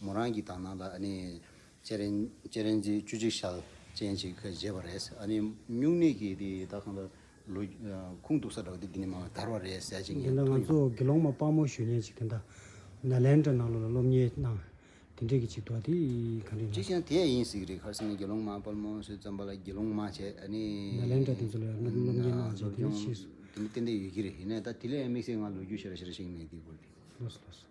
མོ་རང་གི་དག་སྣང་ལ་ཨ་ནི། ཅེ་རེན། ཅེ་རེན་ཅེ་བཅུ་གཅིག་ཤལ་ཅན་ཅིག་བཞེས་པ་རེད། ཨ་ནི། སྨྱུང་གནས་ཀྱི་དེ་དག་གང་དུ། ལོ། ཁུངས་གཏུགས་ས་འདྲ་བ་དེ་འདི་ནས་མང་བས་དར་བ་རེད་ཟེར་ཅིག་ངས་འདི་འདྲ་ཐུག་ང་ཡོང། ཚོ་དགེ་སློང་མ་དཔའ་མོ་གཞོན་ཉེ་ཅིག་དེ་འདྲ། ནཱ་ལེནྡྲ་ནང་ལོག་ལ་སློབ་གཉེར་གནང། དེ་འདྲས་ཀྱི་ཅིག་འདུག་ཨ་དེ་གང་རེད་ཅིག་ན། ཅང་དེ་ཡིན་ཟིག་རེད་ཁར་སེང་ནས་དགེ་སློང་མ་དཔའ་མོ་སུས་བརྩམས་པ་ལ་དགེ་སློང་མ་བྱས་ཨ་ནི། ནཱ་ལེནྡྲ་དེ་ཚོ་ལོ་ཡར་སློབ་སློབ་གཉེར་གནང་བྱས་དེ་ནས་ཕྱིས་སུ། དེ་འདྲ་ཏན་ཏན་ཡོད་ཀྱི་རེད་ཧེ་ན་ད་དེ་ལས་དམིགས་བསལ་ང་ལོ་རྒྱུས་ཤེས་ར་ཤེས་ར་ཞིག་མེད་དེའི་སྐོར་དེ། ལོས་སོ་ལོས་སོ།